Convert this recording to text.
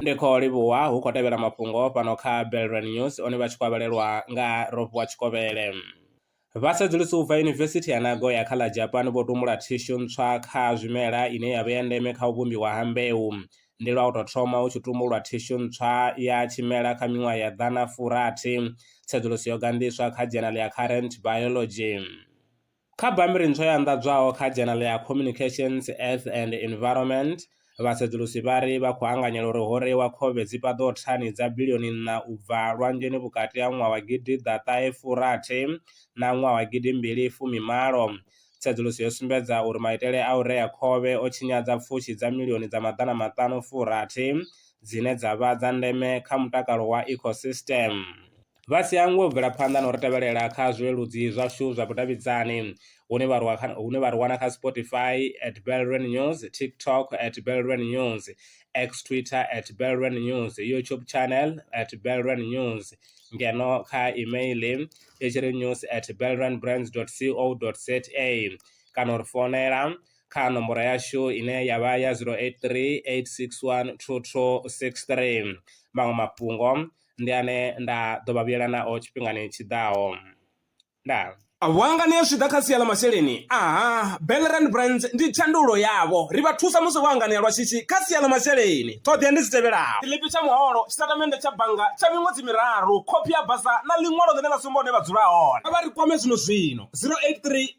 ndi khou livhuwa hu khou tevhela mafhungo fhano kha Belrand News one vha tshi kwavhelelwa nga Ropiwa Tshikovhele. Vhasedzulusi u bva Yunivesithi ya Nagoya kha ḽa Japan vho tumbula thishu ntswa kha zwimela ine ya vha ya ndeme kha u vhumbiwa ha mbeu. Ndi lwa u tou thoma hu tshi tumbulwa thishu ntswa ya tshimela kha miṅwaha ya ḓana furathi. Tsedzuluso yo ganḓiswa kha dzhenale ya Current Biology. Kha bammbiri ntswa yo anḓadzwaho kha dzhenele ya Communications, Earth and Environment, vhasedzulusi vha ri vha khou anganyela uri ho reiwa khovhe dzi paḓaho thani dza bilioni nṋa u bva lwanzheni vhukati ha ṅwaha wa gidi ḓa ṱahe fu rathi na ṅwaha wa gidi mbili fumi malo. Tsedzuluso yo sumbedza uri maitele a u rea khovhe o tshinyadza pfushi dza milioni dza maḓana maṱanu fu rathi dzine dza vha dza ndeme kha mutakalo wa ecosystem. Vha si hangwe u bvela phanḓa na u ri tevhelela kha zwileludzi zwashu zwa vhudavhidzani hune vha hune vha ri wana kha Spotify at Belrand News, TikTok at Belrand News, X Twitter at Belrand News, YouTube channel at Belrand News ngeno kha email i tshi ri news at belrandbrands.co.za kana u ri founela kha nomboro yashu ine ya vha ya 083 861 2263. Maṅwe mafhungo ndi ane nda ḓo vha vhuyela nao tshifhingani tshi ḓaho. Ndaa. Vhuangani ha zwi ḓa kha sia ḽa masheleni, aha, Bellerand Brands ndi thandululo yavho. Ri vha thusa musi vho anganea lwa shishi kha sia ḽa masheleni. Ṱhoḓea ndi dzi tevhelaho. Tshiḽipi tsha muholo, tshitatamennde tsha bannga tsha miṅwedzi miraru, khophi ya basa na ḽiṅwalo ḽine ḽa sumba hune vha dzula hone. Kha vha ri kwame zwino-zwino, 083.